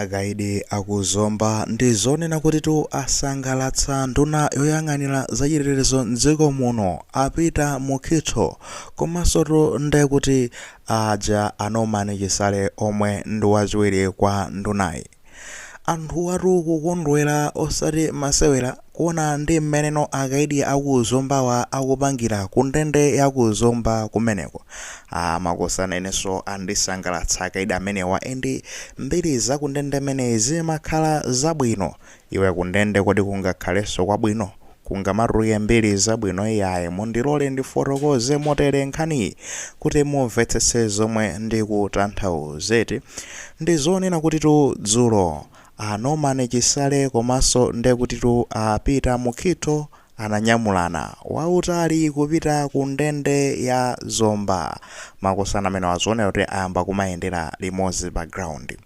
Akaidi a ku Zomba ndi zonena kutitu asangalatsa nduna yoyang'anira zachitetezo m'dziko muno a Peter Mukhitho komansotu nde kuti aja a Norman Chisale omwe ndi wachiwiri kwa ndunayi. Anthuwatu kukondwera osati masewera. Kuona ndi mmeneno akaidi a ku Zombawa akupangira ku ndende ya ku Zomba kumeneko, makosana inenso andisangalatsa akaidi amenewa and mbiri za ku ndende imeneyi zimakhala zabwino. Iwe ku ndende kodi kungakhalenso kwabwino? Kungamatuluke mbiri zabwino? Iyayi, mundilole ndifotokoze motere nkhaniyi kuti mumvetsetse zomwe ndikutanthauza. Eti ndi zonena kutitu dzulo A Norman Chisale komaso ndekutitu a Peter Mukhitho ananyamulana wautali kupita ku ndende ya Zomba. Makosana amenewa zikuoneka kuti ayamba kumayendera limodzi pa ground.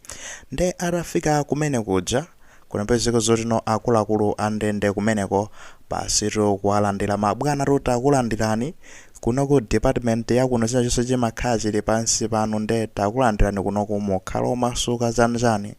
Nde atafika kumene kuja, kunapezeka zoti no akuluakulu a ndende kumeneko basitu kuwalandira ma bwanatu takulandirani kuno ku department ya kuno china chonse chimakhala chili pansi panu nde takulandirani kunoku mukhala omasuka chanichani.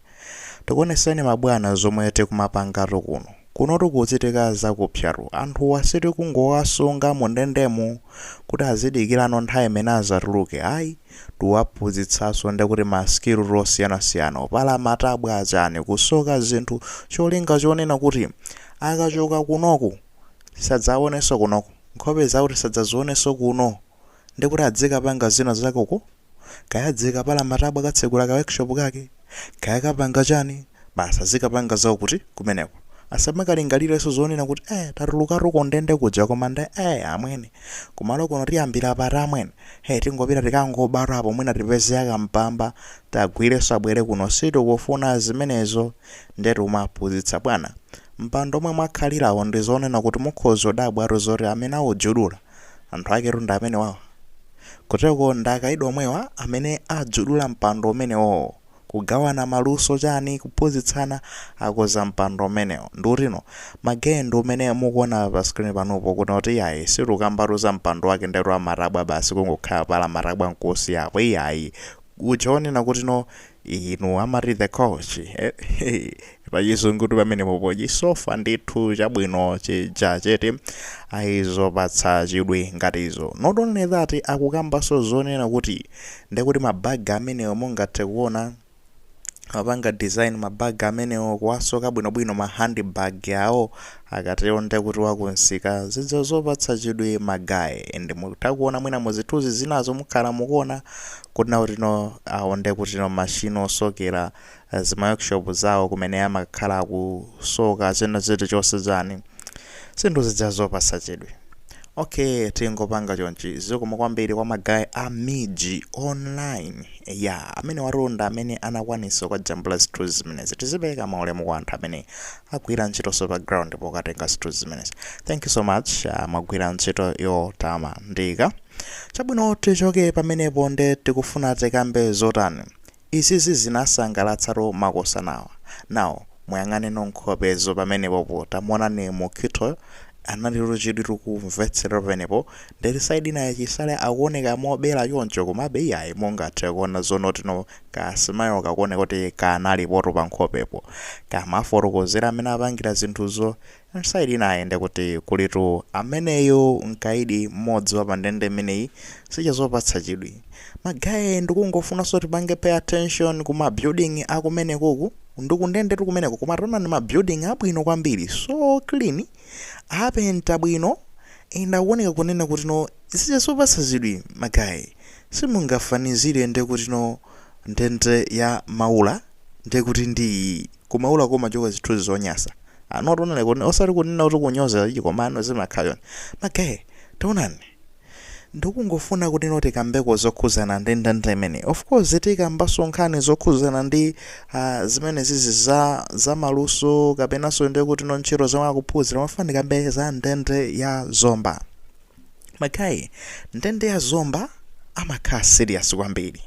Tikuoneseni ma bwana zomwe tikumapangatu kuno. Kunotu kukuchitika zakupsatu. Anthuwa sitikungowasunga mu ndendemu kuti azidikirano nthawi imene azatuluke ayi. Tiwaphunzitsaso ndekuti ma skill tu osiyanasiyana, opala matabwa, chani, kusoka zinthu cholinga chonena kuti akachoka kunoku sadzaoneso kunoku. Nkhope zawo tisadzazioneso kuno. Nde kuti adzikapanga zina zake uko, kaya adzikapala matabwa katsegula ka workshop kake, kaya kapanga chani, basi azikapanga zawo kuti kumeneko. Asamakalingalirenso zonena kuti eh tatulukatu ku ndende kuja koma nde eh amwene. Kumalo kuno tiyambira pati amwene. Hey tingopita tikangobatu apo mwina tipeze ya kampamba tawagwirenso abwere kuno sitikufuna zimenezo. Ndiye tikumaphunzitsa bwana. Mpando omwe mwakhalirawo ndi zonena kuti mukhoza kudabwatu zoti amene aujudula anthu aketu ndi amenewawa. Kuteroko ndi akaidi omwewa amene ajudula mpando umenewowo. Kugawana maluso chani, kuphunzitsana, akoza mpando umenewo nde kuti no ma guy ndi umene mukuona pa screen panupo kuona kuti iyayi sitikukambatu za mpando wake ndetu amatabwa basi kungokhala pala matabwa nkuusiyapo iyayi uja wonena kuti no inu amati the couch eh, pachizungutu pamenepopo chisofa ndithu chabwino chija chete ayi zopatsa chidwi ngati izo not only that akukambanso zonena kuti ndekuti mabaga amenewo mungathe kuona apanga design ma bag amenewo kuwasoka bwinobwino ma handbag awo Akatero nde kuti wa ku msika zija zopatsa chidwi ma guy and mutha kuona mwina mu zithuzi zinazo mukhala mukuona kunena kuti no awo nde kuti no machine osokera zima workshop zawo kumene amakhala akusoka china chilichonse chani zinthu zija zopatsa chidwi ok tingopanga chonchi zikomo kwambiri kwa ma guy a MIJ Online ya amenewatu ndi amene anakwanisa kukajambula zithuzi zimenezi tizipereka ma ulemu kwa anthu amene agwira ntchitonso pa ground pokatenga zinthu zimenezi thank you so much ah, mwagwira ntchito yotamandika chabwino tichoke pamenepo nde tikufuna tikambe zotani izizi zinasangalatsatu makosanawa now muyang'aneno nkhopezo pamenepopo tamuonani Mukhitoyo analitu chidwi tikumvetsera pamenepo ndeti side inayi Chisale akuoneka mobera choncho komabe iyayi mungathe kuona zonena kuti no Ka smile kakuoneka kuti kanalipotu pa nkhopepo. Kamafotokozera amene apangira zinthuzo. And side inayi nde kuti kulitu ameneyu mkaidi mmodzi wa pa ndende imeneyi. Zija zopatsa chidwi. Ma guy ndikungofunanso tipange pay attention ku ma building a kumenekuku. Ndi ku ndendetu kumeneko koma taonani ma building abwino kwambiri. So clean. Apenta bwino and akuoneka kunena kuti no zija zopatsa chidwi ma guy. Simungafanizire nde kuti no ndende ya Maula nde kuti ndi iyi ku Maulako kumachoka zithuzi zonyasa ano tonale kone osati kunena kuti kunyoza iyayi koma ah no zimakhala chonchi ma guy taonani ndikungofuna kuti no tikambeko zokhuzana ndi ndende imeneyi of course tikambanso nkhani zokhuzana ndi ah, zimenezizi za za maluso kapenanso nde kuti no ntchito zomwe akuphunzira mafuna ndikambe za ndende ya Zomba Ma guy, ndende ya Zomba amakhala serious kwambiri.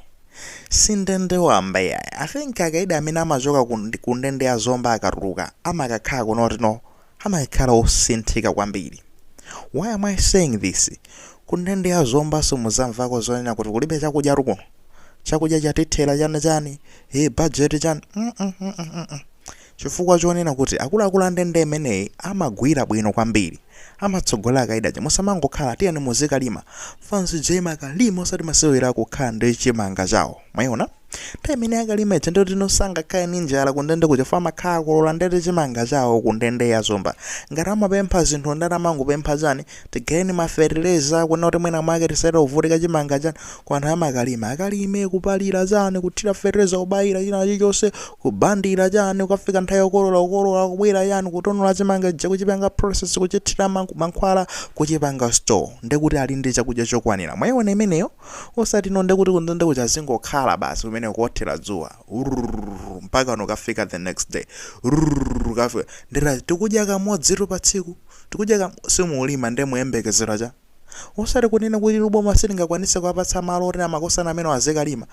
Si ndende wamba iyayi. I think akaidi amene amachoka ku ndi- ku ndende ya Zomba akatuluka amakakhala kunena kuti no amakakhala osinthika kwambiri. Why am I saying this? Ku ndende ya Zomba simudzamvako zonena kuti kulibe chakudyatu kuno. Chakudya chatithera chani chani. Hey, budget chani. Mm -mm -mm -mm -mm. Chifukwa chonena kuti akuluakulu a ndende imeneyi amagwira bwino kwambiri. Amatsogolera akaidi aja. Musamangokhala, tiyeni muzikalima. Fans ija imakalima osati masewera kukhala ndi chimanga chawo. Mwaiona? Nthawi imene akalima ija nde kuti no sangakhale ndi njala ku ndende kuja chifukwa amakhala akolola ndete chimanga chawo ku ndende ya Zomba. Ngati amapempha zinthu ndati amangopempha chani? Tigayireni ma fertilizer kunena kuti mwina mwake tisachite kuvutika chimanga chani kwa anthu amakalima. Akalime kupalira chani kuthira fertilizer kubayira china chilichonse kubandira chani kukafika nthawi yokolola kukolola kubwera chani kutonola chimanga chija kuchipanga process kuchithira ma- mankhwala kuchipanga store nde kuti ali ndi chakudya chokwanira. Mwaiona imeneyo? Osati no nde kuti kundende nde kuti azingokhala basi kumene kuothera dzuwa. Urrrr, mpaka nokafika the next day. Urrrr, kafika. Ndera tikudya kamodzitu pa tsiku. tikudya ka simulima nde muyembekezera cha? osati kunena kuti tu boma silingakwanitse kuwapatsa malo oti amagosana amenewo azikalima.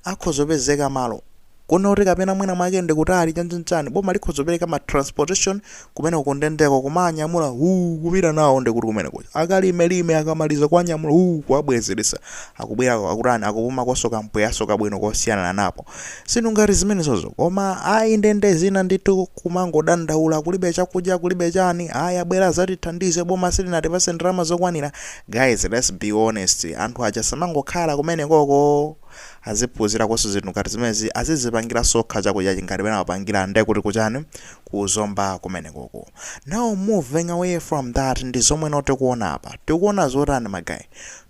akhoza kupezeka malo Kunena kuti kapena mwina mwake ndi kutali chani chani boma likhoza kupereka ma transportation kumeneko kundendeko kumawanyamula huu kupita nawo ndi kuti kumene kuja akalime lime akamaliza kuwanyamula huu kuwabwezeretsa akubwerako akutani akupumakoso kampweyanso kabwino kosiyananapo Zinthu ngati zimenezozo. Koma ayi ndende zina ndithu kumangodandaula kulibe chakudya kulibe chani ayi abwere azatithandize boma silinatipase ndalama zokwanira. Guys let's be honest anthu aja asamangokhala kumenekoko aziphunzirakoso zinthu ngati zimenezi azizipangilaso okha chakudya ngati mmene amapangila nde kuti kuchani ku Zomba kumenekoko. Now moving away from that ndizomweno tikuona apa. Tikuona zotani ma guy?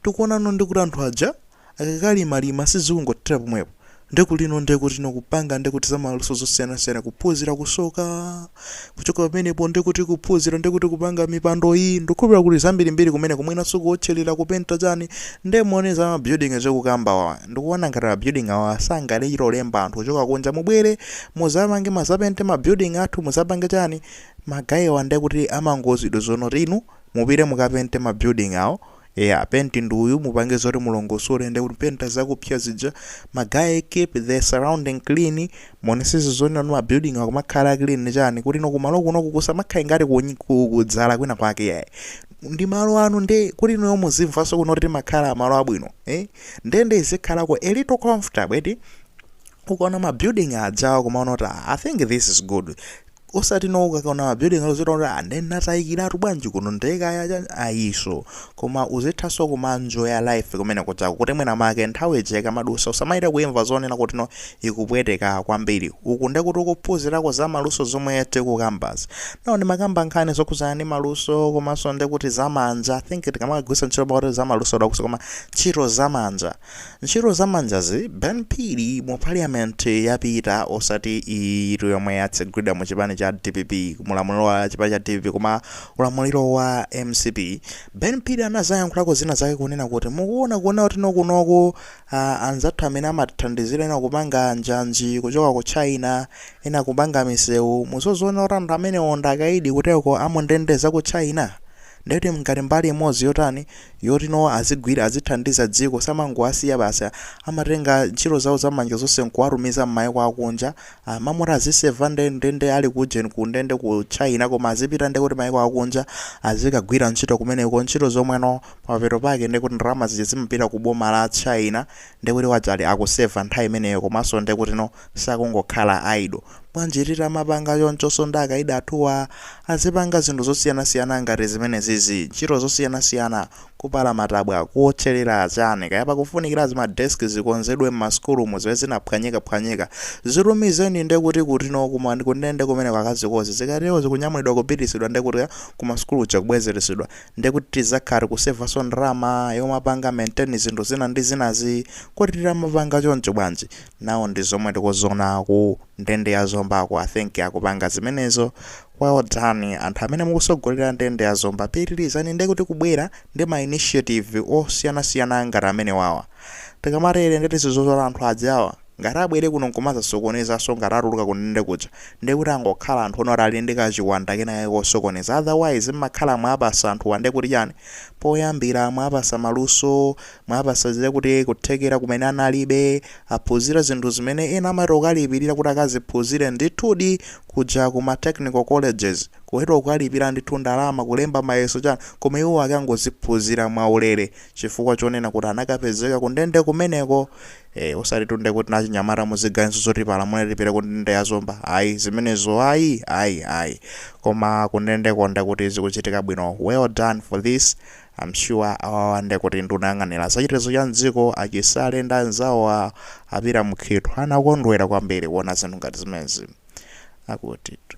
Tikuonano ndikuti anthu aja. akakalimalima sizikungothera pomwepo ndiye kuli no ndekuti no kupanga ndekuti zamaluso zosiyanasiyana kuphunzira kusoka kuchoka pamenepo ndekuti kuphunzira ndekuti kupanga mipando iyi ndikukhulupirira kuti zambirimbiri kumeneko mwinanso kuotchelera kupenta chani nde muona za ma building tikukambawa ndikuona ngati ma building awa sangachite kulemba anthu kuchoka kunja mubwere muzamange muzapente ma building athu muzapange chani ma guy awa ndekuti amangouzidwa zoti inu mupite mukapente ma building awo Eya penti ndi uyu mupange zoti mulongosole ndi kupenta zakupsa zija ma guy keep the surrounding clean muonesese zoti nanu ma building akumakhala clean chani kuti no kumalo kuno kusamakhale ngati kunyi- ku- kudzala kwina kwake yayi ndi malo anu nde kuti inuyo muzimvanso kuno kuti timakhala malo abwino eh? nde nde izikhalako a little comfortable eti ukaona ma building ajawa kumaona kuti "Ah, i think this is good osati no ukaona ma building awo uziona kuti ah nde natayikiratu bwanji kuno nde kaya cha ayiso koma uzithanso kumanjoya life kumene kujako kuti mwina make nthawi ija ikamadusa usamachite kuimva zonena kuti no ikupweteka kwambiri uku nde kuti ukuphunzirako za maluso zomwe tikukambazi no ndimakamba nkhani zokhudzana ndi maluso komanso nde kuti zamanja i think ndikamagwiritsa ntchito pakuti zamaluso dakuso koma ntchito zamanja Ntchito za manjazi Ben Phiri mu parliament yapita osati iyiyitu yomwe yatsegulidwa mu chipani cha dpp mulamuliro wa chipani cha dpp koma ulamuliro wa mcp Ben Phiri anazayankhulako zina zake kunena kuti mukuona kunena kuti nokunoku ah, anzathu amene amathandizira ena kupanga njanji kuchoka ku China ena kupanga misewu muzaona kuti anthu amenewo ndi akaidi kuteko a mundende za ku China Ndiye kuti ngati mbali imodzi yotani, yoti no azigwira, azithandiza dziko, samangowasiya basi, amatenga ntchito zawo za manja zonse nkuwatumiza mmaiko akunja, mmalo moti aziseva nde, nde, nde ali ku ujeni ku ndende ku China koma azipita nde kuti maiko akunja, azikagwira ntchito kumeneko, ntchito zomwezo, pamapeto pake nde kuti ndalama zija zimapita ku boma la China, nde kuti waja ali akuseva nthawi imeneyo komanso nde kuti no, sakungokhala idle. Bwanji titamapanga chonchonso ndi akaidi athuwa? Azipanga zinthu zosiyanasiyana ngati zimenezizi, ntchito zosiyanasiyana, kupala matabwa, kuwotcherera, chani kaya. Pakufunikira zima desk zikonzedwe m'masukulumu zimene zinaphwanyikaphwanyika. Zitumizeni nde kuti kutino ku ma kundende kumeneko akazikonze. Zikatero zikunyamulidwa kupitisidwa nde kuti ku masukulu kuja kubwezeresedwa. Nde kuti tizakhala tikusevanso ndalama yomapanga maintain zinthu zina ndi zinazi. Kodi titamapanga choncho bwanji? Now ndi zomwe tikuzona ku ndende ya Zomba ko I think akupanga zimenezo well done anthu amene mukusogolera ndende ya Zomba pitilizani nde kuti kubwera ndi ma initiative osiyana siyana ngati amenewawa tikamatere nde kuti zizozola anthu ajawa ngati abwere kuno nkumazasokonezanso ngati atuluka ku ndende kuja nde kuti angokhala anthu no oti ali ndi ka chiwanda kena kake kosokoneza otherwise mmakhala mwapasa anthuwa nde kuti chani poyambira mwapasa maluso Mwapasa zija kuti kuthekera kumene analibe, aphunzira zinthu zimene ena amati akalipirira kuti akaziphunzire ndithudi kuja ku ma technical colleges ku TEVETA kukalipira ndithu ndalama kulemba mayeso chani koma iwo akangoziphunzira mwaulere chifukwa chonena kuti anakapezeka kundende kumeneko eh, osatitu nde kuti achinyamata muziganiza zoti tipalamule tipite kundende ya Zomba ayi zimenezo ayi ayi ayi koma kundendeko nde kuti zikuchitika bwino well done for this I'm sure awawa nde kuti nduna yoyang'anira za chitetezo cha m'dziko, a Chisale ndi anzawo a a Peter Mukhito anakondwera kwambiri kuona zinthu ngati zimenezi. Akutitu.